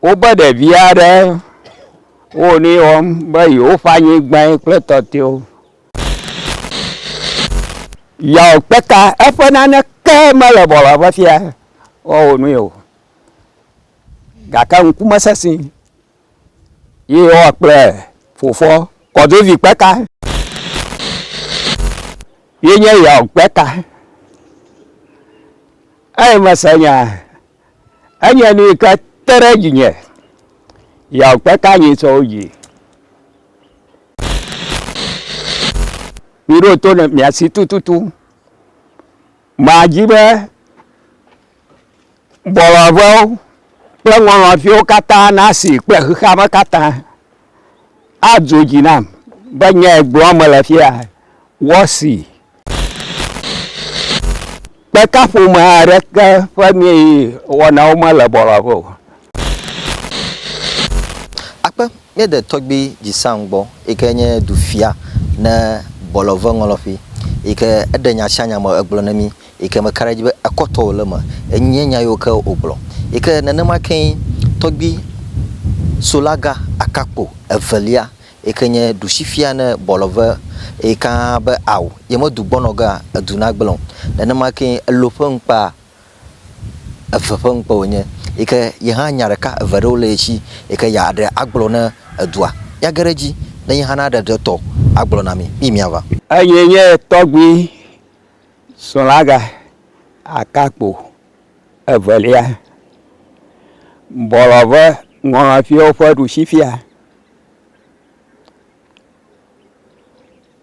Woƒe ɖevi aɖe wo nu ye wɔm be yewoƒe anyigbae kple tɔtewo. Yewo kpe ta eƒe nane ke mele bɔlɔ ƒe fia woawɔ nu ye o gake ŋku mesesẽ ye yewoa kple fofoa kɔdzovi kpe ta ye nye yewo kpe ta. Eye mese nya. Enye nu yi ke te ɖe dzinye yawo kpe ka nyi tsɔ wo dzi. Miɖo to ne miasi tututu. Madzi be bɔlɔvɔwo kple ŋɔlɔviwo katã nasi kple xexeame katã. adzo dzi nam be nyae gblɔm mele fia. Wɔsi kpeka ƒome aɖeke ƒe nu yi wɔnawo mele bɔlɔbɔ o. Akpe míeɖe tɔgbui Jisang gbɔ yi ke nye dufia ne bɔlɔve ŋɔlɔƒe yi ke eɖe nya sia nya me egblɔ na mí yi ke meka ɖe edzi be ekɔtɔ wòle eme. Enye nya yiwo ke wògblɔ. Yi ke nenema kee tɔgbui Solaga Akakpo evelia yi ke nye ɖusifia ne Bɔlɔve yi ka be ao ye medu gbɔnɔ gea, edu nagblẽ o. Nenema kee elo ƒe ŋkpa eve ƒe ŋkpe wònye yi ke ye hã nya ɖeka eve ɖewo le ye si yi ke yeaɖe agblɔ na edua. Míage ɖe edzi ne ye hã naɖe ɖe etɔ agblɔ na mí. Miyi míava. Enyee nye tɔgbui Srɔ̃laga Akakpo evelia bɔlɔve ŋɔlɔfiwo ƒe ɖusifia.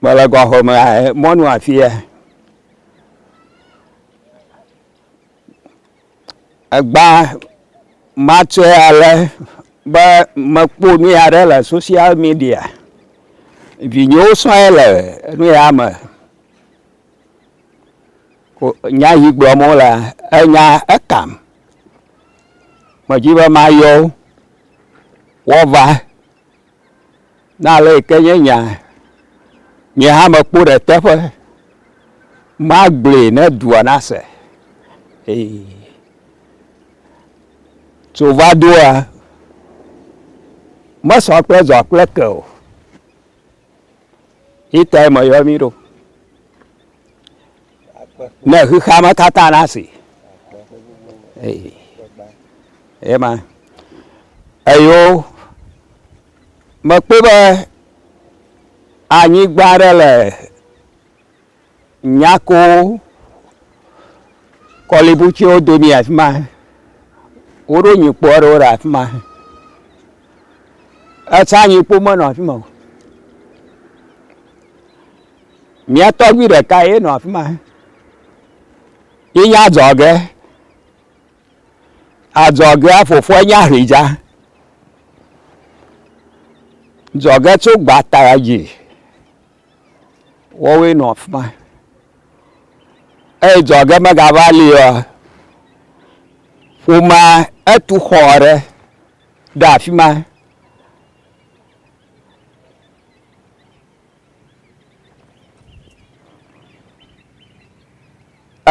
Mele gɔxɔme mɔnu afia. Egba matsɔe ale be mekpɔ nu ya ɖe le social media. Vinyewo sɔe le nu ya me. Nya yi gblɔm wole enya ekam. Medi be mayɔ wo woava ne ale yi ke nye nya nye hã mekpɔ ɖe teƒe magblɔe ne dua nase ee. Tso va doa mesɔ kple dɔa kple ke o. Itae me yɔ mi ɖo. Ne xexea me katã na si. Ema. Eyo mekpɔ be anyigba ɖe le Nyakoo, kɔlibutsiwo domi afi ma. Woɖo nyikpo aɖewo ɖe afi ma. Etsã nyikpo menɔ afi ma o. Mía tɔgbui ɖeka ye nɔ afi ma. Ye nye adzɔge. Adzɔgea fofoa nye Ahridza. Dzɔge tso gbata dzi. Woawoe nɔ afi ma. Eye dzɔ ge megava li oa, ƒomea etu xɔ aɖe ɖe afi ma.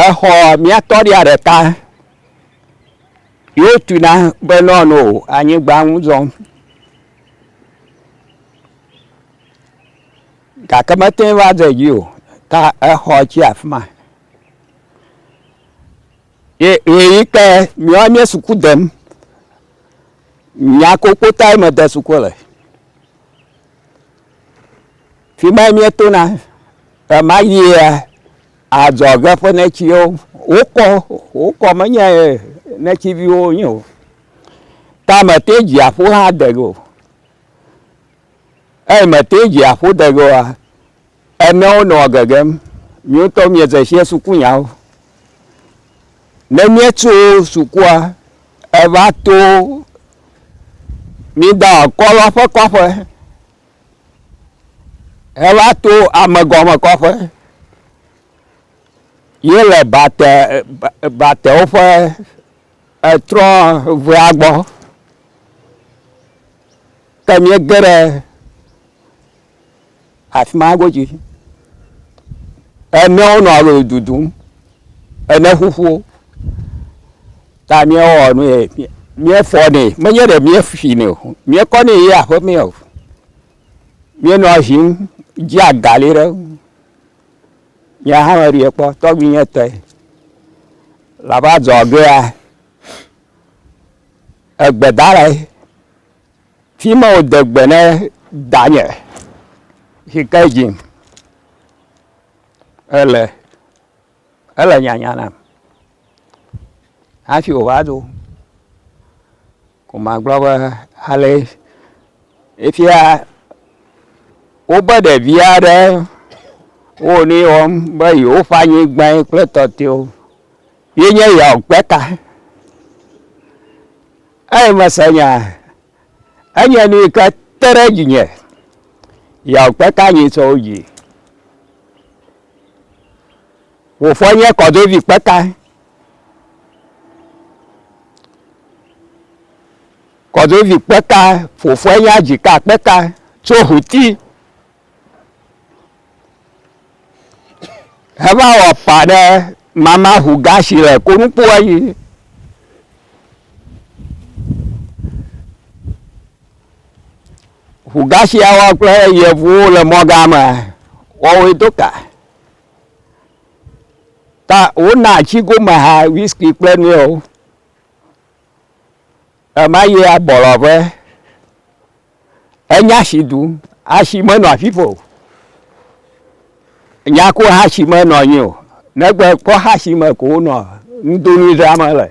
Exɔ mía tɔɖia ɖeka yewo tu na be nɔ no anyigba ŋu zɔm. gake mete ŋu va de dzi o ta exɔ tse le afi ma. Ye ʋeyiʋi ke míawo míe suku dem. Nya kpokpo tae mede suku le. Fi ma míetona ɣemaɣia adzɔge ƒe netsiwo wokɔ wokɔ menye netsi viwo wonye o. Ta mete dziaƒo hã de o. Eyi me te dzi aƒo dege oa, enewo nɔ gegem. Miwo ŋutɔ mie ze shiɛ suku nyawo. Ne mie tso sukua, eva to mi da kɔ lɔ ƒe kɔƒe, he va to ame gɔme kɔƒe ye le bate, batewo ƒe etrɔ ŋea gbɔ. Ke míege ɖe afi ma godzi. Emewo nɔ alo dudum. Ene ƒuƒuwo. Ta míewɔ nu ye míefɔ nɛ. Menye ɖe míefi nɛ o. Míekɔ nɛ yi aƒe mee o. Míenɔ eŋim dzi agali ɖe eŋu. Nye hã meɖui kpɔ tɔgbuinye tɔe. Laba dzɔgea egbedalae. Fi ma wòde gbe na danye si ke dzim ele, ele nyanya nam hafi wòva do ko magblɔ be ale efia wobe ɖevi aɖe wo nu ye wɔm be yewoƒe anyigbae kple tɔtɔewo ye nye yewoa gbe ta. Eye mese nya, enye nu yi ke te ɖe dzinye, Yaw kpe ka nyi tsɔ wo dzi? Wò fɔ nye kɔdovi kpe ka? Kɔdovi kpe ka, fofɔe nye adzi ka kpe ka tso huti? Heva wɔ pa ɖe mama ŋu gasi le konukpoa dzi. Ŋu gasia wɔ kple yevuwo le mɔga me wɔwoe do ka. Ta wona atsi gome ha whisky kple nuyawo. Ema yia bɔlɔƒe. Enya si ɖum. Asi menɔ afi ƒo o. Nya ko hasi menɔ anyi o. Negbe kpɔ hasi me ko wonɔ nudonu dzram le.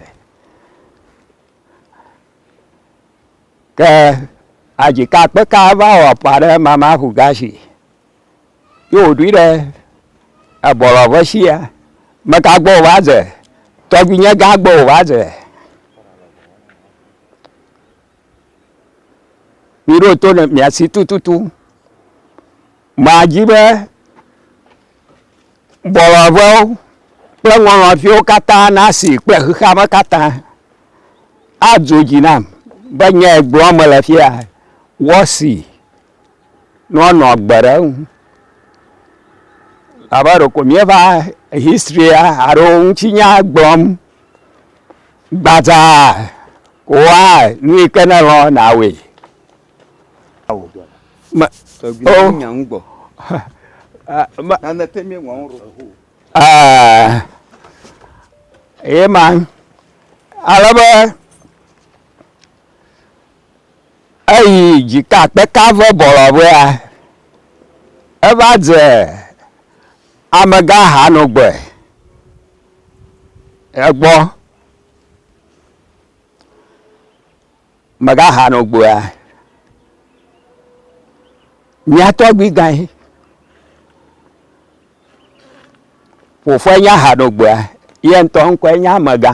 Ke adzika kpeka va wɔ ƒa ɖe mama ŋu gasi. Ye wòɖoe ɖe ebɔlɔ ƒe sia. Meka gbɔ wòva dze? Tɔgbuinyegã gbɔ wòva dze. Miɖo to ne miasi tututu. Madzi be bɔlɔbɔwo kple ŋɔlɔviwo katã nasi kple xexea me katã adzo dzi nam be nyae gblɔm mele fia wɔsi. ne woanɔ agbe ɖe eŋu. Abe ɖeko míeva history alo ŋutinya gblɔm gbadzaa koa, nu yi ke nèlɔ nàwɔe. Me, o, ɛɛ, ye ma. Ale be. Eyi dzika kpeka ƒe bɔlɔƒea, eva dze amegahanɔgbɔe egbɔ. Megahanɔgbɔea, mía tɔgbuigãe, fofoae nye ahanɔgbɔea, ye ŋutɔ ŋkɔe nye amegã.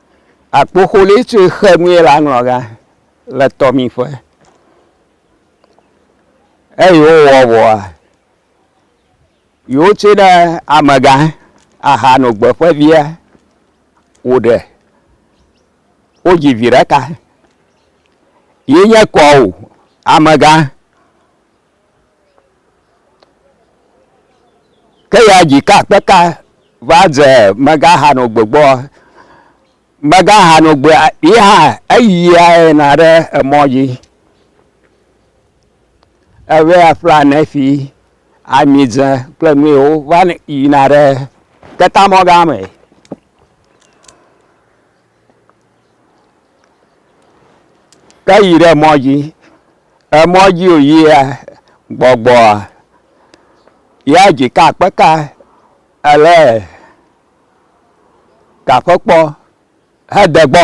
Akpoxolé tso xe nue la ŋlɔ ga le tɔmiƒe. Eyi wowɔ vɔa, yewo tse ɖe amegã aha nɔ gbe ƒe via wo ɖe. Wo dzi vi ɖeka. Ye nye kɔo amegã. Ke ya dzi ka kpe ka va dze megaxanɔ gbegbɔ. Megaxanɔ gbe yi hã eyia yina ɖe emɔ dzi. Eve ya ƒlea nɛfi, amidze kple nu yiwo va yina ɖe ketamɔ̃ gã me. Ke yi ɖe mɔ dzi, emɔ dzi wòyia gbɔgbɔa, ya dzika kpeka ele gaƒekpɔ hede gbɔ.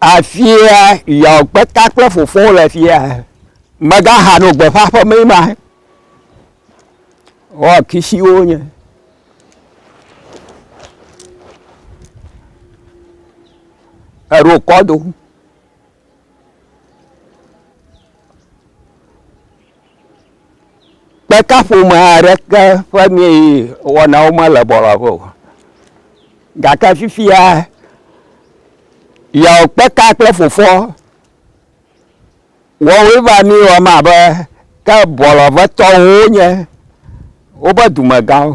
Afia Yaw Kpeta kple fofoa wole afia. Megaha nɔ gbeƒã ƒe mee ma. Wo akisiwo nye. Eɖo kɔdo. Kpeka ƒome aɖeke ƒe mee wɔnawo mele bɔlɔƒe o. Gake fifia yeɔ kpeka kple fofoɔ wɔwoe va mi wɔm abe ke bɔlɔƒetɔwo wonye woƒe dumegãwo.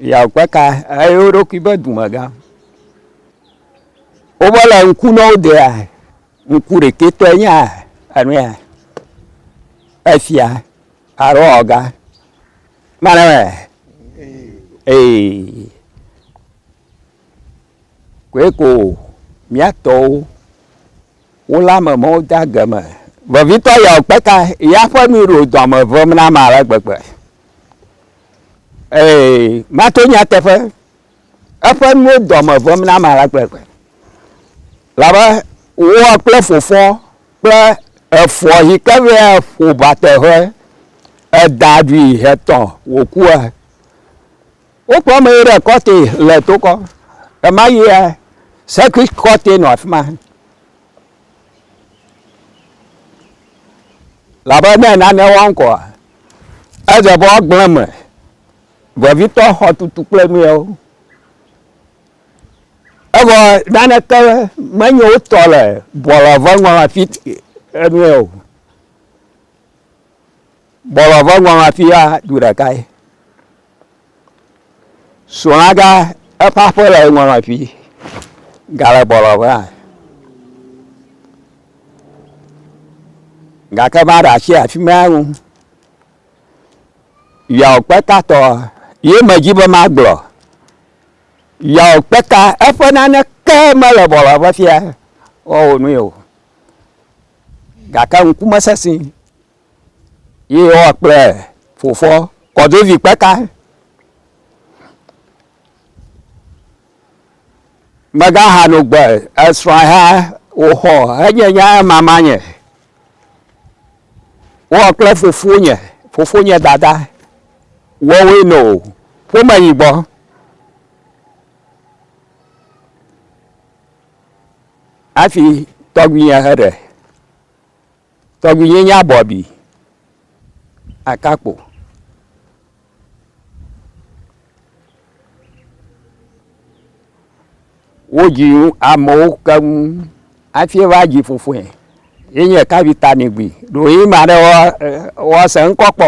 Yeɔ kpeka eye wo ɖokui be dumegã. Wova le ŋku na wo dea, ŋku ɖekɛ tɔe nye enu ya. Efia alo ɔga. Mane me. Ee. Koe ko mía tɔwo wole ame mɔ de age me. Vevitɔ ya kpeka ya ƒe nu ɖo dɔme vem na ma ale gbegbe. Ee, mato nyateƒe eƒe nuwo dɔme ʋem na ame alakpekpe. Labe woa kple fofɔ kple efɔ yi ke vea ƒo ba teƒe eda ɖui hetɔ wòkua. Wokpɔ ame yi ɖe kɔte le tokɔ. Ema yia sekui kɔte nɔ afi ma. Labe ne nane wɔm kɔa, edze be woagblẽ eme. Vevitɔ xɔtutu kple nuyawo. Evɔ naneke menye wo tɔ le bɔlɔvɔŋɔŋɔafi enue o. Bɔlɔvɔŋɔŋɔafi ya du ɖeka ye. Srɔ̃laga eƒe aƒe le ŋɔŋɔafi gale bɔlɔvɔa. Gake maɖe asi afi ma ŋu. Yaw kpeta tɔ ye me dzi be ma gblɔ. Yaw kpeta eƒe nane ke me le bɔlɔ ƒe fia wa wo nu ye o. Gake ŋku me sesi ye wa kple fofo kɔdovi kpeta. Megaxa nu gbe esrɔ̃a ya wòxɔ enye nya mama nye. Wowɔ kple fofonye, fofonye dada wɔwoe no ƒome yi gbɔ. Hafi tɔgbuinye heɖe. Tɔgbuinye nye abɔ abi akakpo. Wodzi amewo keŋ hafi va dzi fofoe. Ye nye ɖeka vi ta ni gbi. Ɖo ɣi ma ɖe woase ŋkɔ kpɔ.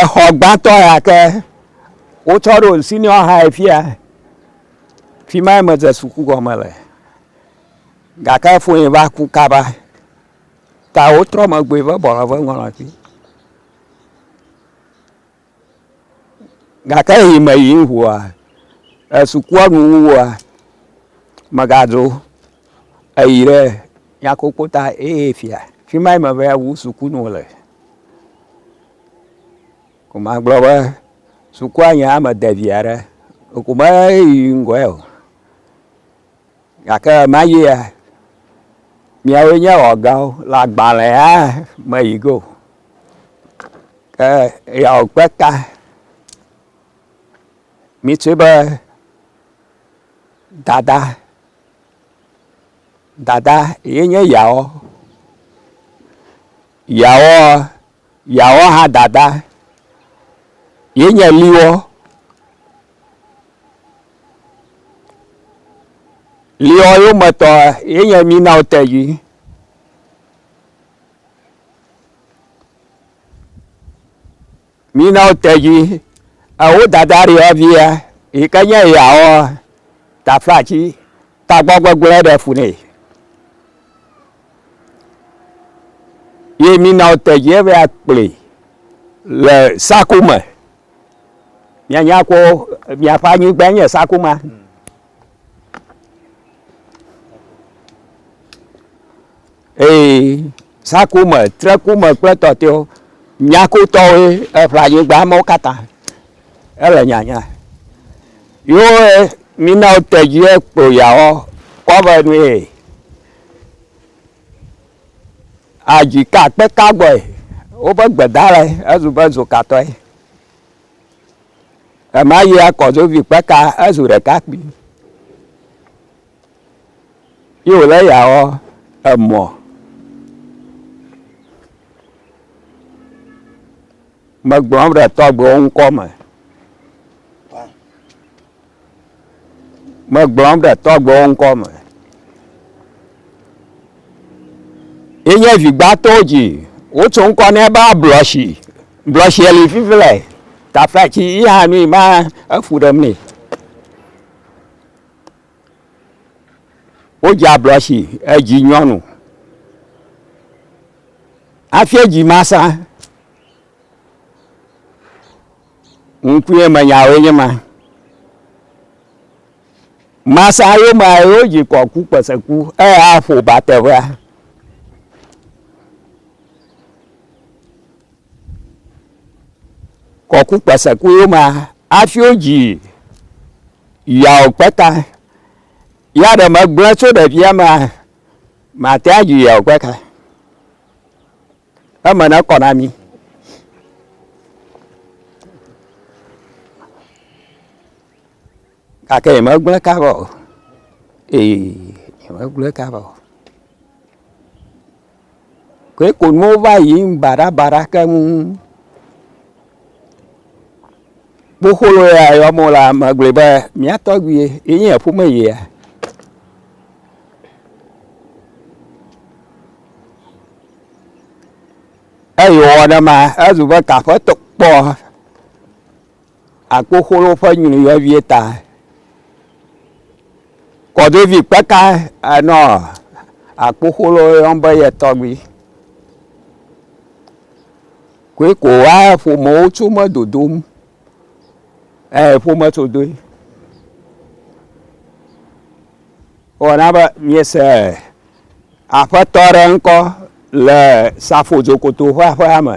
Exɔ gbãtɔ ya ke wotsɔ ɖo senior high fi ya. Fi mae medze suku gɔme le gake foe va ku kaba ta wotrɔ megbea vɔ bɔlɔ va ŋɔlɔa dzi. gake yi me yim ʋua esukua nu wua megadzo eyi ɖe nyakokpo ta eye fia fi ma yi me va wu sukunu le ko magblɔ be sukua nye ame de vi aɖe ko meyi ŋgɔe o. Gake ɣemaɣie miawoe nye ewɔgawo le agbalẽa me yi go. Ke eyawo kpe ta mitsi be dada, dada ye nye yawo. Yawoa. Yeawɔ ha dada, ye nye liwɔ, liwɔ yo me tɔ, ye nye mi na ote yi. Mi na ote yi, ewo dada riɔ via, yi ke nye yeawɔ tafa ci. Tagbɔ gbegblẽ ɖe fu nɛ. Ye mina wote dzi eve akplii le saku me. Mianya ko miaƒe anyigbae nye saku ma. Ee, sakome, trekome kple tɔtɛwo, nyakotɔwoe eƒle anyigba mawo katã. Ele nyanya. Yo e, mina wo tedzi ekpo yawɔ kɔve nu ye. Adzi ka kpe ka gbɔe. Woƒe gbedalɛ ezu be zokatɔe. Ema yi akɔzovi kpeka ezu ɖekakpui. Ye wòle eya wɔ emɔ. Megblɔm ɖe tɔgbewo ŋkɔ me. Megblɔm ɖe tɔgbewo ŋkɔ me. Ye nye vigbãtɔwo dzi. Wotso ŋkɔ nɛ be ablɔshi. Blɔshi li fifilɛ. Tafɛtsi yi hã nui ma efu ɖem nɛ. Wodze ablɔ si edzi nyɔnu. Hafi edzi ma sa, ŋkue me nyawoe nye ma. Masa yo ma yo dzi kɔ ku kpese ku eye aƒo ba teƒea. kɔku kpasaku yo ma hafi wodzi yawo kpata ya ɖe megblẽ tso ɖevia ma mate adzi yawo kpata eme ne kɔ na mi gake yemegblẽ ka vɔ ee yemegblẽ ka vɔ koe ko nuwo va yiyim baɖabaɖa keŋ. Kpokplo ya yɔm wolea, megblɔe be mía tɔgbui ye, enye ƒome yia. Eyi wɔ ɖe mea, ezu be aƒetɔ kpɔ. akpoxolo ƒe nyui vevie ta. Kɔɖevi kpeka enɔ akpoxolo yɔm be ye tɔgbui. Koe ko wa ƒomewo tso me dodom ee ƒome tso doe. Wɔna be miese aƒetɔ ɖe ŋkɔ le safodzo koto ƒe aƒea me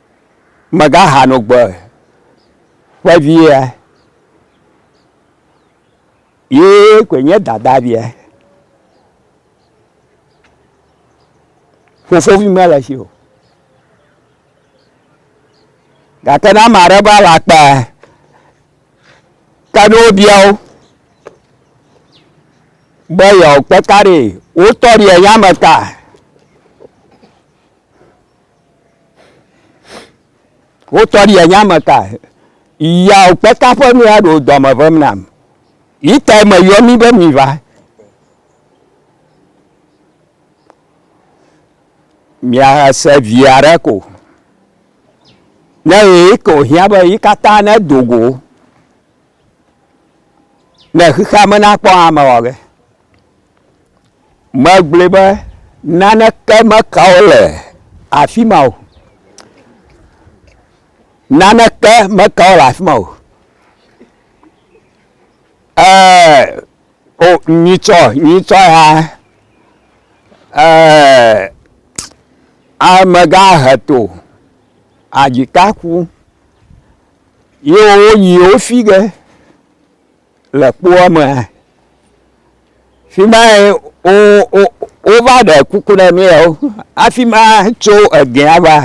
Megaha no gbe ƒe via, ye koe nye dada via. Fofovi mele si o. Gake ne ame aɖe va le akpa ke ne wobia wo be yewoakpe ka ɖee, wotɔ ɖi eya me ta. Wotɔ ɖi enya me ka yawo kpeta ƒe nu ya ɖo dɔme ʋem nam. Yi tae me yɔ mi be mi va. Mia se via ɖe ko. Ne yi ko hiã be yi katã ne dogo. Ne xexea me nakpɔ ame wɔ ge. Megblɔe be naneke meka wo le afi ma o. Naneke meka wo le afi ma o. Ee, o nyitsɔ nyitsɔ ya ee amegã heto adzika ku. Ye wonyi wo fi ge le kpoa me. Fi mae wo wo wova ɖe kuku ɖe mí yio hafi ma tso egea va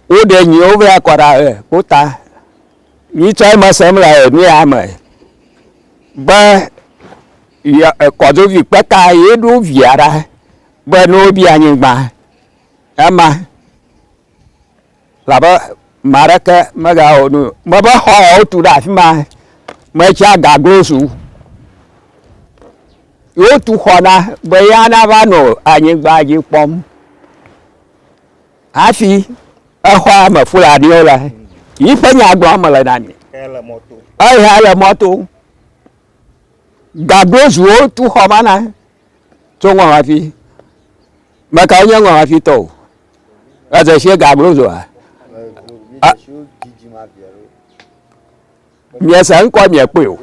woɖe nyiwo va kɔ ɖe e kpota. Mí tsɔ eme sem le nuya me be ya e kɔdovi kpeka ye ɖo via ɖa be ne wobia nyigba ema. Elabe ame aɖeke megawɔ nu mebe xɔ wotu ɖe afi ma metsea gaglo su. Wotu xɔ na be ya nava nɔ anyigba dzi kpɔm. Hafi exɔa me Fulaniwo le yi ƒe nya gblɔm mele na mi. Eya le mɔto. Gaglo zuwo tu xɔ ma na tso ŋɔ hafi. Meka wonye ŋɔ hafi tɔ o. Eze sie ga glo zoa. Miese ŋkɔ miekpɔe o.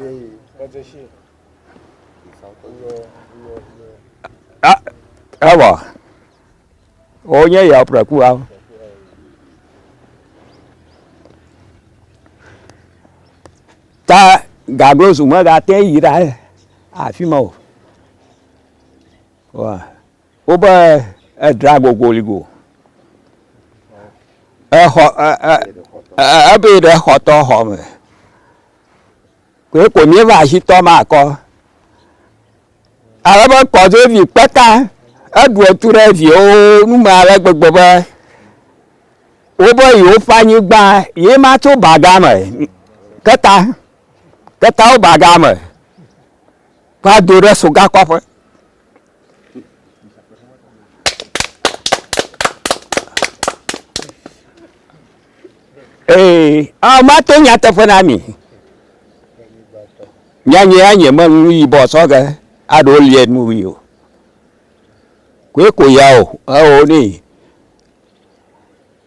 Evɔ. Wonye ya ƒreku awo. Ta gaglo zu megate yi ɖa afi ma o. Wobe edra gogoli go. Exɔ ebe ɖe xɔtɔ xɔ me. Koe ko míeva asitɔ ma kɔ. Ale be kɔdzovi kpeka eɖu etu ɖe viwo nu me ale gbegbe be wobe yewoƒe anyigba ye ma tso baga me. Keta ketawo baga me. Kpla do ɖe soga kɔ aƒe. Ee, ah, mato nyateƒe na mi. Nyanye anye menu nu yibɔ sɔge aɖo lie nu wi o. Koe ko ya o, eo ne.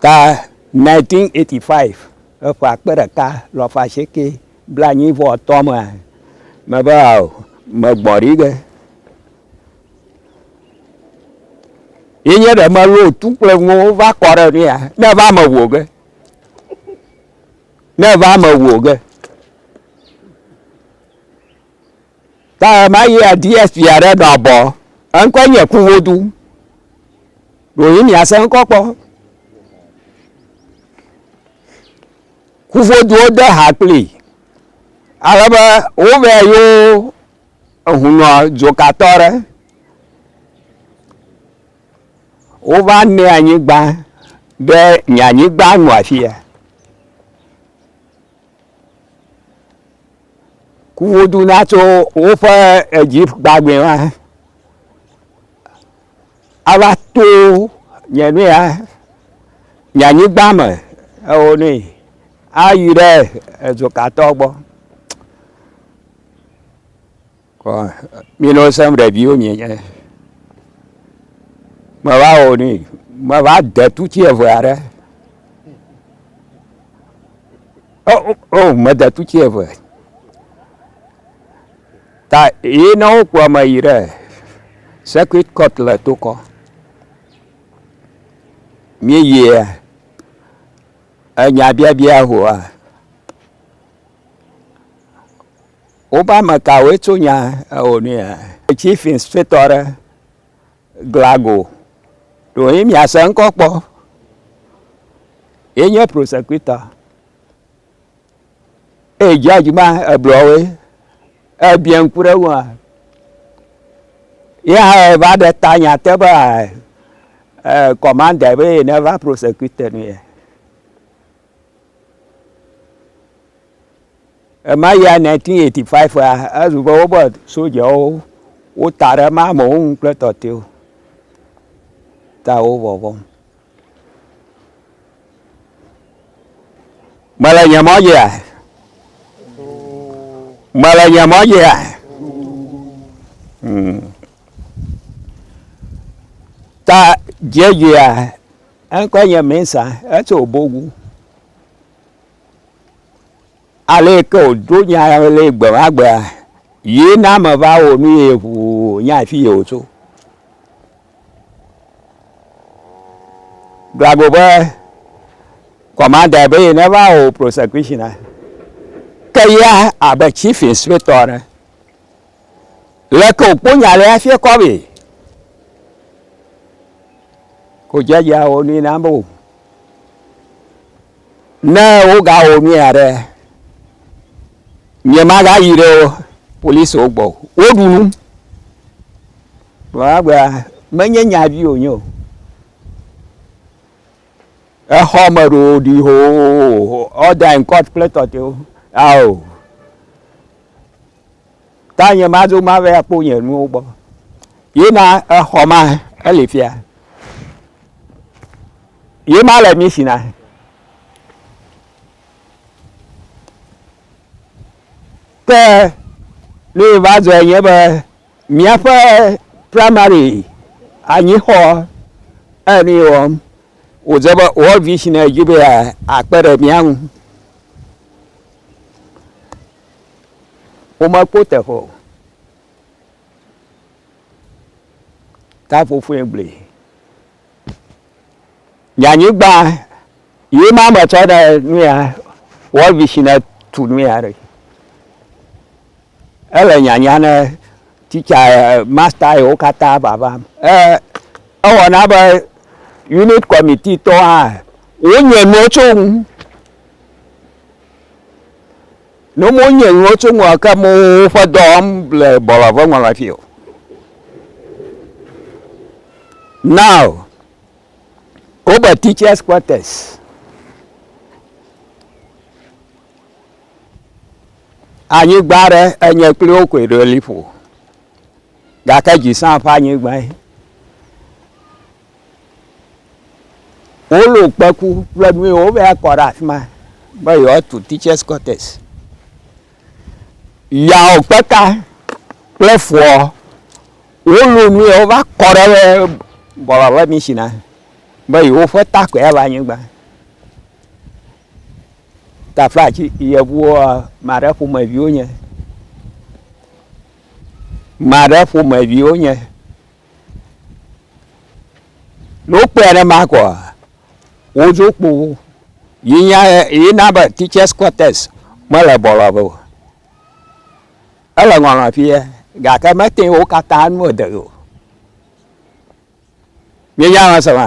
Ta 1985, le ƒe akpe ɖeka alafa asieke blaenyi vɔ etɔ̃ mea, mebe ao, megbɔ ɖi ge. Ye nye ɖe melo tu kple ŋuwo va kɔ ɖe nu ya, ne va me wò ge. Ne va me wò ge. Ta ɣema ɣia DSP aɖe ɖɔ abɔ. Eŋkɔe nye Kunwodu. Ɖewohĩ miase ŋkɔ kpɔ. Kuvoduwo de ha kplii. Ale be wovea yewo ehunɔ dzokatɔ aɖe. Wova nɛ anyigba be nye anyigba nɔ afia. ku woɖu na tso woƒe Egypt gbagbe ma ava to nye nu ya nye anyigba me ewo nui ayi ɖe ezokatɔ gbɔ. Mi nɔ sẽm ɖe viwo mi nye. Me va wɔ ni, me va de tu tsi eve aɖe. O, oh, o, oh, me de tu tsi eve. Ta yi ne wokpɔ me yi ɖe circuit court le tokɔ. Mi yi enya biabia hoa. Woƒe ame kawoe tso nya ewɔ nui hã? Chief Inspector aɖe, Glago, ɖewo ye miase ŋkɔ kpɔ. Ye nye prosecutor. Eye judge ma eblu woe. Ebia ŋku ɖe eŋua. Ye hã eva ɖe ta nya te be eh, commander be ye neva prosecute nu ye. Ema ya 1985a, ezu be wobe sojawo wota ɖe ema amewo ŋu kple tɔtɛwo ta wo vɔvɔm. Mele nye mɔ dzia? Mele nye mɔ dzia? Hmm. Ta dzedzia Eŋkɔe nye Mensa, etso Obogu. Ale yi ke wòɖo nya le gbe ma gbea, ye na meva wɔ nu ye ŋuu nya afi yi wòtso. Glagbo ƒe kɔmandae be ye neva wɔ wò prosɛkushina. Ke ya abe chief inspector ene. Leke wòkpɔ nya le hafi ekɔ amee? Ko dzadzɛ awɔ nui na amewo. Ne wogawɔ nu ya ɖe, nyemagayi ɖe polisiwo gbɔ o. Woɖu nu. Vɔ egbea, menye nya vi wònye o. Exɔ me ɖo ɖi hoo, order in court kple tɔtɔewo, ao. ta nye madzo ma vɛ akpɔ nye nuwo gbɔ. Ye na exɔ ma ele fia. Ye ma le misi na. Ke ne va dzɔe nye be míaƒe primary anyixɔ enu yi wɔm wòdze be World Vision dzi be akpe ɖe mía ŋu. Womekpɔ teƒe o. Ta ƒoƒoe gblẽ. Nye anyigba ye ma me tsɔ ɖe nu ya World Vision ne tu nu ya ɖe. Ele nyanya ne titsa masta yewo katã vava. Ewɔ na be unit kɔmiti tɔ hã wonye nuwo tso ŋu. Ne mo nye ŋɔ tso ŋɔ ke mo ƒe dɔ wɔm le bɔlɔ ƒe ŋɔ la fi o. Now, wo be teachers quarters. Anyigba ɖe enye kple wo koe ɖo liƒo. Gake dzi sã ƒe anyigba ye. Wolɔ kpeku kple nu yiwo wobe akɔ ɖe afi ma be yewoatu teachers quarters. Yeawɔ kpeka kple foɔ. Wolɔ nu ye wova kɔ ɖe be bɔlɔ ƒe mishina be yewoƒe ta koe ava anyigba. Tafa tsi yevuwoa, ame aɖe ƒomevi wonye. Ame aɖe ƒomevi wonye. Ne wokpɔe aɖe ma kɔ wodzo kpo wo yi nya yi na be teachers quarters mele bɔlɔ be o ele ŋɔlɔ fie gake mete wo katã nu ede o mi nya ma sema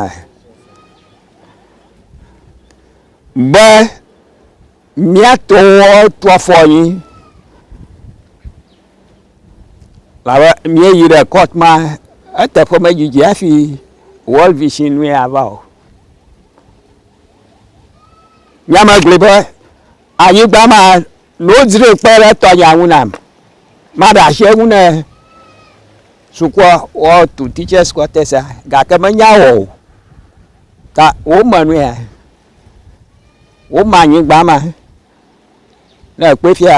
be miatɔ wo tu afɔ anyi. Labe míeyi ɖe court ma eteƒe medidi hafi World Vision nue ava o. Nye me gblɔe be anyigba ma ne wodzre kpe ɖe tɔnya ŋu nam maɖe asi eŋu ne sukua woatu teachers quarters a gake menya wɔ o. Ta wome nue woma anyigba ma Ne èkpɔe fia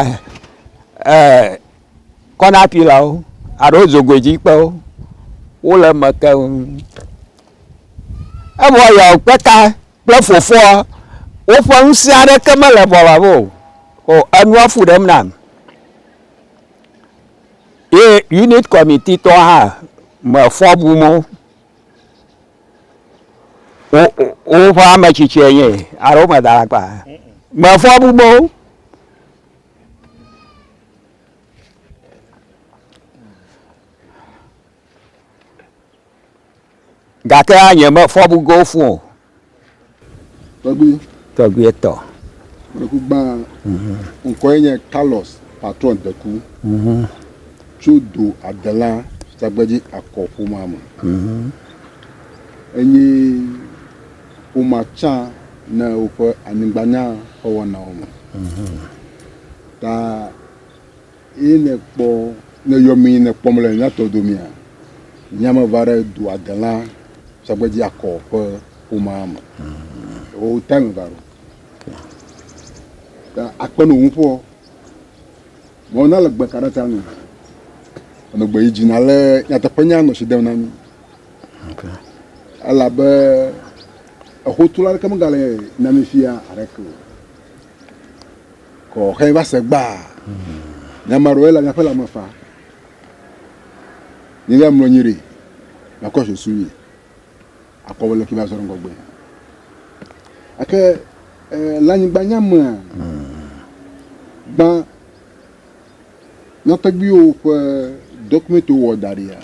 ee kɔna pilawo alo dzogoedzikpewo wole eme keŋ. Evɔ yɔkpeka kple fofoa woƒe ŋusẽ aɖeke mele bɔla me o. O enua fu ɖem nam. Ye unit kɔmititɔ hã mefɔ bum o. wo woƒe ame tsitsie nye alo womeda alakpa mefɔ bubo gake nye mefɔ bugo fũ o Tɔgbui. Tɔgbui tɔ. Deku gbã. Ŋkɔ ye nye Carlos Patron Deku. Tso do Adela Tsagbedzi Akɔ ƒomea me. Enye ƒomea tsã ne woƒe anyigbanya ƒe wɔnawo me. Ta. Eye nèkpɔ, nèyɔ mí ne kpɔm le nyatɔ domea? Nye ame va ɖe dua delã sɔgbe dzi akɔ ƒe ƒomea me. Wò time va ɖo. Ta akpe no ŋu ƒoɔ. Mɔ na le gbe ka ɖe ta nu. Ame gbe yi dzi na le nyateƒe nya nɔ si dem na mí. Elabe exotula ɖeke megale na mí fia aɖeke o. Kɔ xe va se gbaa. Nye ame aɖewoe le miaƒe lãme faa. Nye ya mlɔ anyi ɖi, makɔ susu mi, akɔ wole fi va zɔ ŋgɔgbe. Ake le anyigba nya mea, gbã nyɔtɔgbiwo ƒe dɔkumɛntiwo wɔ da ɖia,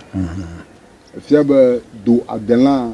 efia be do adelã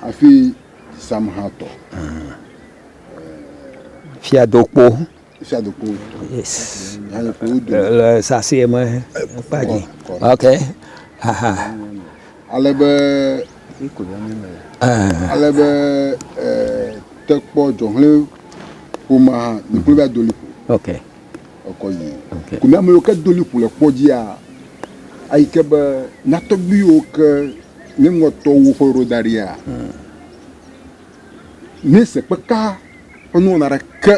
Hafi Samhatɔ. Fiadokpo. Fiadokpo. Yes. Le sasɛ me kpa dzi. Ok. Aha. Ale be ale be tekpɔ dzɔhlɛ ƒomea, mi kple bia doli ƒo. Ok. ekɔ yi okay. kò mìame yiwo ke do liƒo le kpɔ dzia ayi ke be na tɔgbi yiwo ke nye ŋutɔwo ƒe ɖo da ɖia mm. ne se kpeka ƒe nuwɔna ɖeke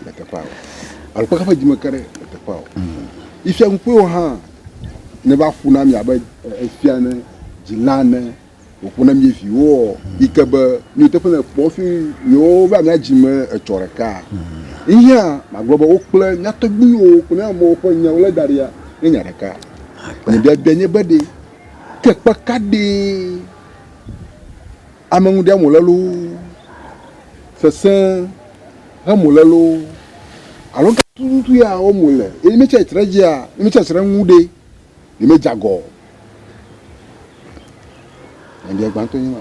le teƒea o alo kpeka ƒe dzime ke ɖe le teƒea o mm. ifia ŋukpewo hã ne va ƒu na mi abe efia ne dzila ne Wòƒo na mí viwoɔ, yi ke be nuteƒe le kpɔ hafi yewova mía dzi me etsɔ ɖeka. Yihã magblɔ be wo kple mía tɔgbuiwo kple mía amewo ƒe nya wolé da ɖia nye nya ɖeka. Nye biabia nye be ɖe ke kpe ka ɖee ame ŋu ɖiam wòle loo, sesẽ hem wòle loo alo ga tututu ya wɔm wòle eye ne metsi atsitre edzia, ne metsi atsitre eŋu ɖe, Nyemedze agɔ o. Nyabiã gbãtɔ nye ma.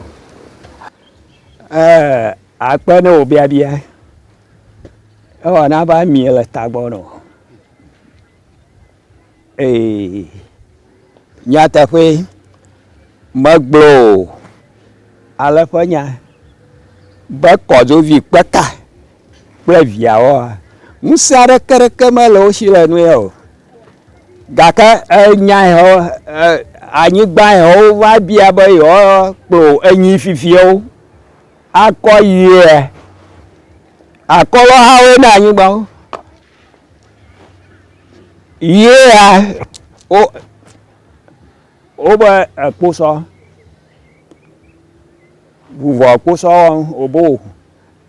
Ɛɛ, akpe ne wò biabia. Ewa na va mie le tagbɔ nɔ. Ee, nyateƒe megblɔ o. Ale ƒe nya be kɔdzovi kpeka. kple viawoa, ŋusẽ aɖeke ɖeke mele wo si le nu ya o. Gake enya ya wo anyigba ya wova bia be yewoakplɔ enyi fifiawo akɔ yia akɔlɔ hawo na anyigba wo. Yia wo wobe ekposɔ vuvɔ kposɔ wɔm wobo.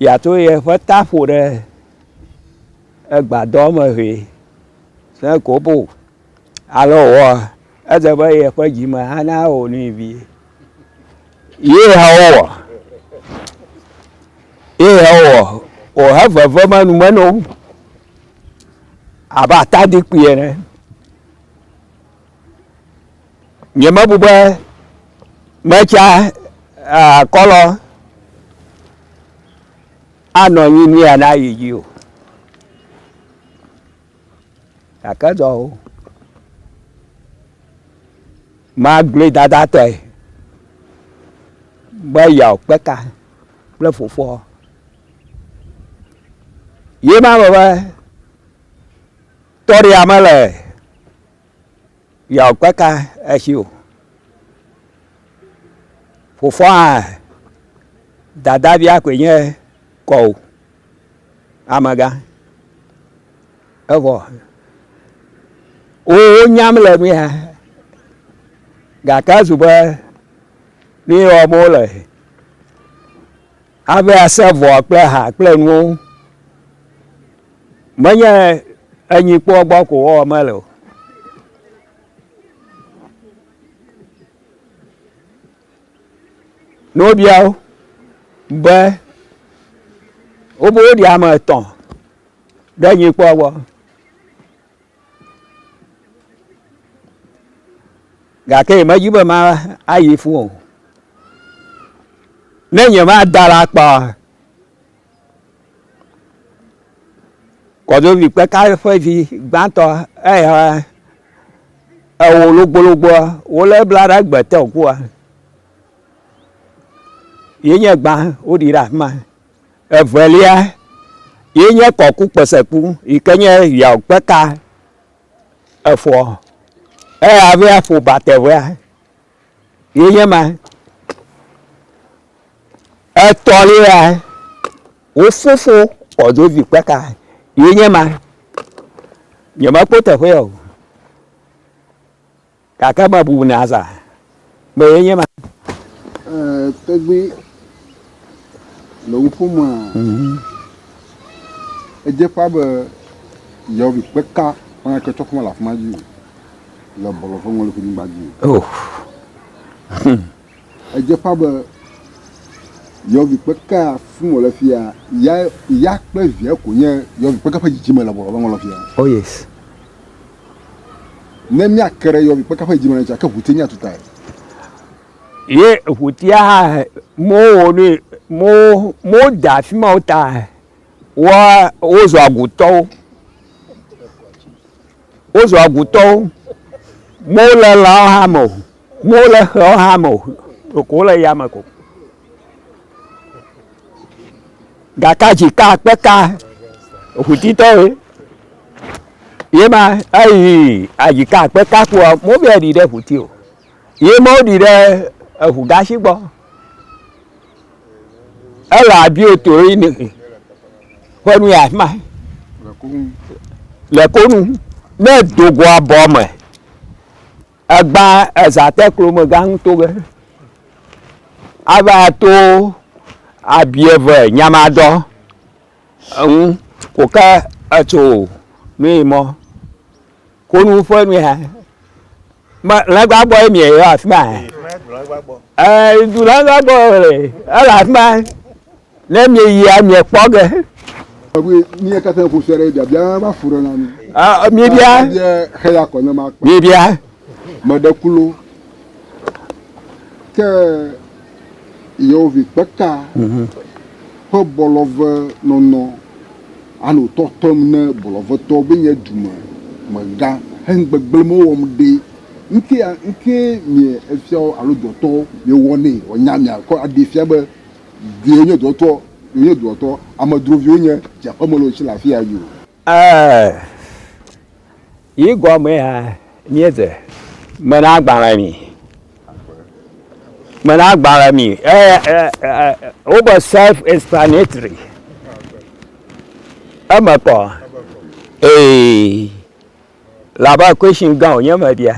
Yeato yeƒe ta ƒo ɖe egbadɔ me vɛ ne kobo alo wòwɔa, edze be yeƒe dzi me ana wò nui vie. Ye hã wowɔ, ye hã wowɔ, wòhe vevem enume na wo abe atadikpui ene. Nyemebu be metsa akɔlɔ anɔ anyi ni ana yi dzi o. Gake dɔ o. Magblɔe dadatɔe be yeawo kpe ka kple fofoa. Ye ma be be tɔɖia mele Yɔ kpeka esi o. Fofoa dadavia koe nye kɔ o. Amegã. Evɔ wowo nyam le nu ya. Gake ezu be nu yi wɔm wo le. Hafi ase vɔa kple ha kple nuwo ŋu. Menye enyikpɔa gbɔ ko wɔwɔm ele o. Ne wobia wo be wobe woɖi ame etɔ̃ ɖe nyikpɔa gbɔ. gake yemedi be mayi fũ o ne nyemada la kpa kɔdovi kpeka ƒe vi gbãtɔ eya ewo logbologboa wole bla ɖe egbe te ŋkua yenye gbã woɖi ɖe afima Evelia ye nye kɔkukpeseku yi ke nye yaokpeka efɔ eya hafi aƒo batevea ye nye ma. Etɔ̃lia wofufu kɔdzovi kpeka ye nye ma. Nyemekpɔ teƒea o. Gake ame bubu ne aza be ye nye ma. Ee, tɔgbi le wo ƒomea, mhm. edze ƒã be yewovi kpeka ƒã ke tsɔ ƒome le afima dzi le bɔlɔ ƒe ŋɔli ƒe nyigba dzi. Oh. Edze ƒã be yɔvikpekea fim wòle fia ya ya kple via ko nye yɔvikpekea ƒe dzidzime le bɔlɔ be ŋɔlɔ fia. Oh yes. Ne míake ɖe yɔvikpekea ƒe dzidzime ŋuti ake ʋuti míatu tae. Ye ʋutia hã mɔwo ne mɔwo mɔwo da afi ma wo ta woa wozɔ agutɔwo. Wozu agutɔwo. Mewo le lãwo hã me o. Mewo le xewo hã me o. Ɖeko wole yame ko. Gaka dzi ka kpe ka ŋutitɔwoe. Ye ma eyi adzi ka kpe ka kpoa, mobia ɖi ɖe ŋuti o. Ye ma woɖi ɖe eŋu gashi gbɔ. Ele abiotoroyi ne ƒe nu ya ma le konu ne dogo abɔ me egba ezate klome gã ŋuto ge ava to abieve nyamadɔ eŋu ko ke etso nui mɔ konu ƒe nu ya Lɛgbaa gbɔ ye mie yɔ afi ma. Ɛɛ du lɛgbaa gbɔ le ele afi ma. Ne mie yia mie kpɔ ge. Ɔbi mie katã ƒo sɔ ɖe bia bia ma fu ɖe na mi. Ɛɛ mie bia. Mie xe ya kɔ ne ma kpɔ. Mie bia. Mɛ ɖe kulo. Ke. Yeovi kpeka ƒe bɔlɔve nɔnɔ ano tɔtɔm ne bɔlɔvetɔ be nye dume me gã hen gbegble me wɔm ɖe ŋke a ŋke mie efiawo alo dɔtɔ mie wɔ ne wɔ nya mia kɔ a ɖe fia be dɔe nye dɔtɔ dɔe nye dɔtɔ amedroviwo nye dze aƒeme le wo tsi le afia yo. Ɛɛ. Yi gɔmee hã míedze. Mena agbalẽ mi. Mena agbalẽ mi. Wobe self explanatory. Eme kɔ. Ee. Labe question gã wònye mebia.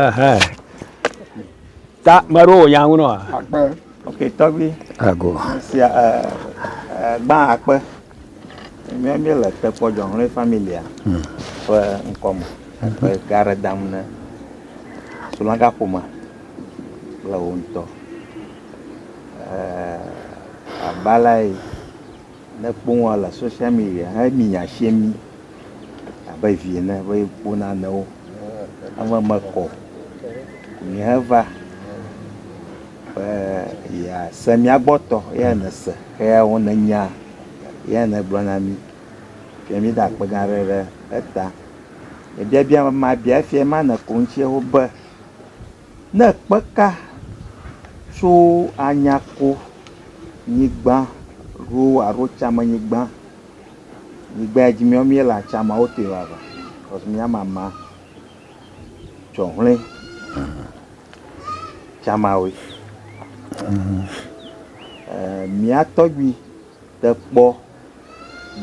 Ɛhɛn. Ta me aɖewo wònya ŋu nɔa? Akpe. Ok, tɔgbi. Ago. Sia ɛ ɛ gbã akpe. Mía mí le tekpɔ jɔnlɔe familia hmm. ƒe ŋkɔme. Akpe mhm. ga ɖe dam ne sulɔga ƒomea kple wo ŋutɔ. Ɛ eh, abalae. Ne ekpɔ wòa le social media he mi nya sie mi abe vi ene be kpɔ nanewo. Ame me kɔ mi he va be ya se mia gbɔ tɔ ya ne se he ya wo ne nya ya ne gblɔ na mi. Fia mi da kpe gã ɖe ɖe eta. Ebia bia ma bia fia ma ne ko ŋtsie ho be. Ne kpe ka tso anyako nyigba ɖo alo tsame nyigba, nyigba ya dzi mía mía le atsama wo tɔe vava kɔs mía mama tsɔ ŋle tsama woe. E mía tɔgbi te kpɔ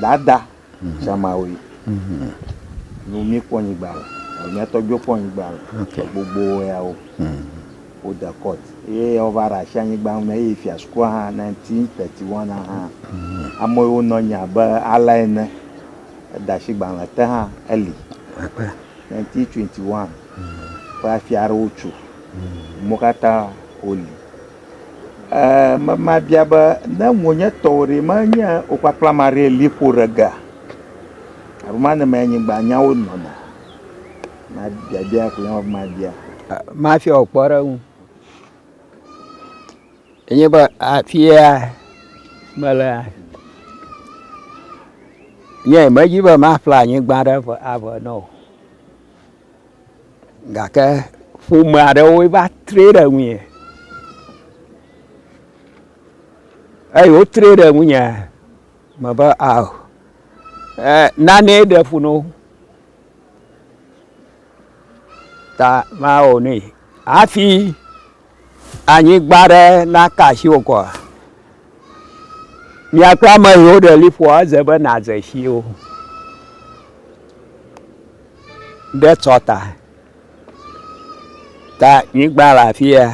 dada. Zamawoe. Mm-hmm. Nu mi kpɔ nyigba le. Mia tɔ dzo kpɔ nyigba le. Okay. Gbogbo ya wo. Mm. Wo de court. Ye wo va ra shi anyigba me ye fia sku ha 1931 ha. Mm. Amo wo no nya be ala ene. Da shi gba le te ha eli. Akpa. 1921. Mm. Fa fia ro chu. Mm. Mokata oli. Eee mabia be ne ŋu nye tɔwo ɖe, menye wò kpakple ame aɖee li ƒo ɖe gea? Abe ema ne mee nyigbanyawo nɔna. Na biabia koe nye be mabia. Mafia wò kpɔɖeŋu enye be afia melea, nye medi be maƒle anyigba ɖe ave na wò. Gake ƒome aɖewoe va tre ɖe ŋunye. Eyi wotre ɖe ŋunye mebe ao e nane ɖe fu no ta mawɔ nui hafi. anyigba ɖe naka asi wò kɔa? Mia kple ame yiwo ɖe liƒoa, edze be nàdze si wo ɖe tsɔ ta. Ta nyigba le afi ya.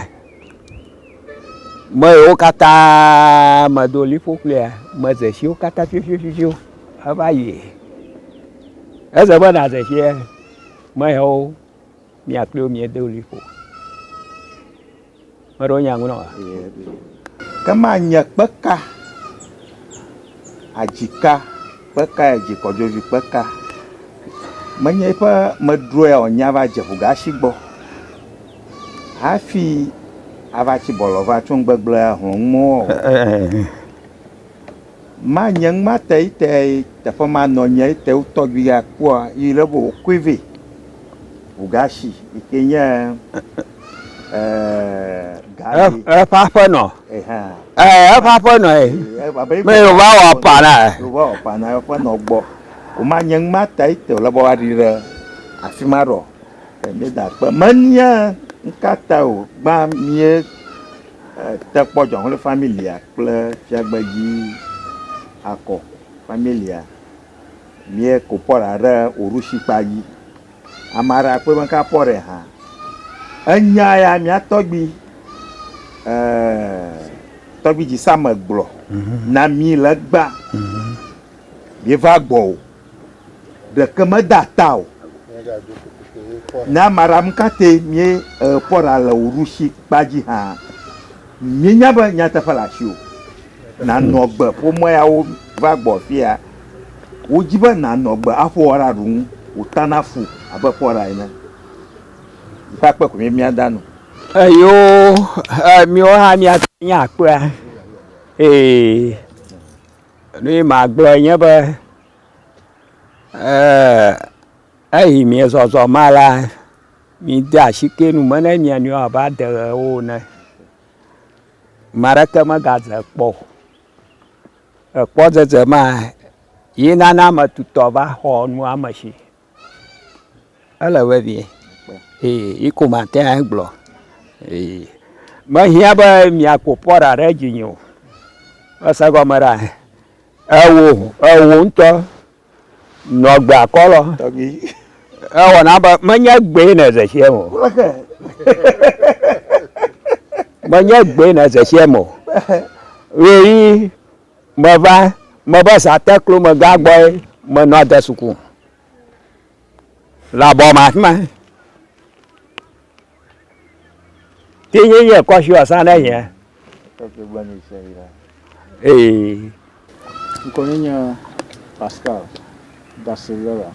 Me yiwo katã medo liƒo kplia, medze si wo katã fiafiafiafiawo heva yi. Edze be nàdze si me yawo. Mía kple wo míedo ɣli ƒo. Ame aɖewo nya ŋu na wòa? Ke manye kpe ka adzi ka, kpe kae adzi kɔdzovi kpe ka? Menye eƒe medrɔea wònye ava dze ʋugasi gbɔ hafi ava tsi bɔlɔ va tso nugbegblẽa hlɔ̃m mɔ o. Ma nye ŋma te ite teƒe ma nɔ nye ite wotɔ gbi ga kpɔa yi le bo koi ve ugashi ike nye eh gari eh pa pa no eh ha eh pa pa no eh me yo va wa pa na eh yo va wa pa na pa no gbo o ma nye ŋma te ite le bo wa ri re afi ma ro eh me da kpe me nia ŋka ta o gba mie Te kpɔ Dzɔxle Familia kple Fiagbe Dzi Akɔ Familia mie ko pɔ ɖa ɖe wò ɖushi kpa dzi. Ama ɖe akpɔe be ŋka pɔ ɖe hã. Enya ya mia tɔgbi, eeee, tɔgbi Dzi Same gblɔ na mi le gbã. Mie va gbɔ o. ɖeke me da ta o. Nya maram kate mie e kpɔ ɖa le wò ɖushi kpa dzi hã, mie nya be nyateƒe le asi o. Na nɔ gbe ƒomea ya wo va gbɔ fia. Wo dzi be na nɔ gbe a ƒoa ɖa ɖu ŋu wò ta na fu abe kpɔ ɖa ene. Yi ƒe akpe ko mie mia da nu. Eyo e miewo hã mia te ŋu akpea. Ee. Nu yi magblɔ nye be, ee eyi miezɔzɔ ma la, mide asike nu me na mia nɔewo abe adeɣewo ene. Ame aɖeke megadze kpɔ o. Ekpɔdzedze ma ye nana ame tutɔ va xɔ nua me tsi. Ele vevie eye yi ko mate ŋu agblɔ eye mehiã be miaƒo pɔɖa ɖe dzinye o. Ese gɔme ɖa? Ewò ewò ŋutɔ nɔ gbea kɔlɔ. Ewɔna be menye gbee ne zexiɛ me o. Menye gbee ne zexiɛ me o. Ɣeyiɣi Meva, meva Zateklo megã gbɔe menɔ de suku le abɔ me afi ma. Ti nye nye kɔshi ɔsa ne nye. Ee. Ŋkɔ nye nye Pascal. Barcelona,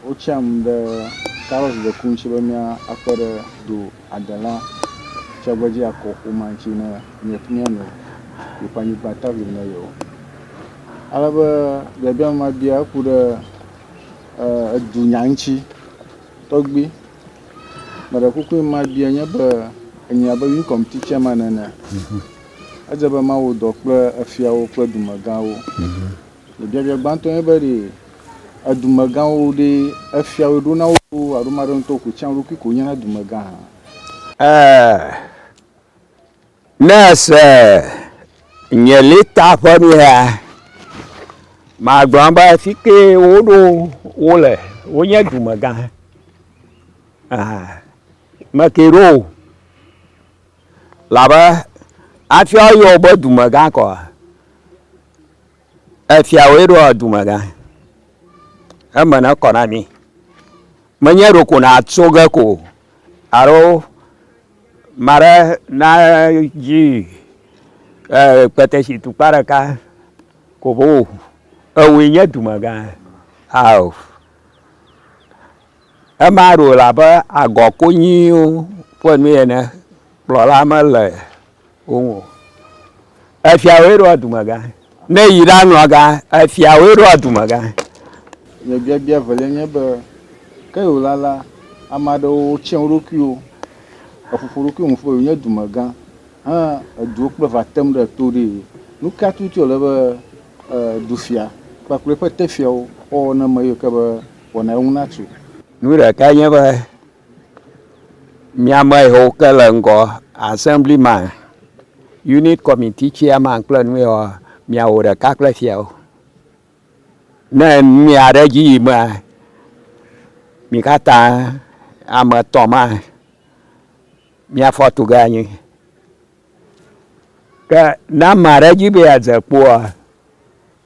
Wotsiam ɖe Carlos de Cún ŋuti be míakpe ɖe do adela tsagbedzi akɔ ƒomea ŋuti ne míanɔ yeƒe anyigba ta vim na yewo. Ale be biabia ma bia eku ɖe edunya ŋuti. Tɔgbi, meɖe kuku ma bia nye be, enya be Wii Kɔmiti Tsɛman ene. Edze be mawɔ dɔ kple efiawo kple dumegãwo. Le biabia gbãtɔ nye be, ɖe edumegãwo ɖe efiawo ɖo na wo loo alo ame aɖe ŋutɔ koe tsã eɖokui koe nyena dumegã hã? E, ne èse nye lɛta ƒe nuyaa, magblɔ be fi ke woɖo wo le wonye dumegã. Ame ke ɖo wo. Labe afia woyɔ wobe dumegã kɔa, efia woe ɖoa dumegã. Eme ne kɔ na mi. Menye ɖoko nàtso ge ko alo ame aɖe nadzi ee kpetesi tukpa ɖeka ko ʋo o. Ewòe nye dumegã ao. Ema ɖo le abe agɔ konyiwo ƒe nue ene, kplɔla mele wo ŋu o. Efiawoe ɖoa dumegã, ne eyi ɖanɔa ga, efiawoe ɖoa dumegã. Nye biabia evelia nye be, ke wòla la, ame aɖewo tsrɔ̃ wo ɖokuiwo, eƒoƒo ɖokuiwo nu ƒo eye wonye dumegã he eduwo kple va tem ɖe to ɖee. Nu ka tututu wòle be dufia kpakple eƒe teƒeawo woawɔ ne ame yiwo ke be wɔna ŋu natso. Nu ɖekae nye be, mía ame yiwo ke le ŋgɔ, Assemblyman, Unit Committee Chairman kple nu yewoa, miawɔ ɖeka kple fiawo. Ne nu ya ɖe edzi yimea, mi katã ame etɔ̃ ma miafɔ tu ge anyi. Ke ne ame aɖe di be yeadze kpoa,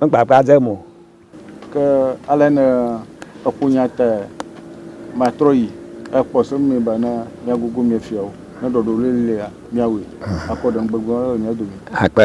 Nugbagba dem o. Ke ale ne eƒo nya tae matrɔ yi akpɔ se nɛ be ne míagugu mía fiawo, ne ɖɔɖɔli lia, míawɔe akpɔ ɖeŋugbegblẽ le mía dome. Akpe.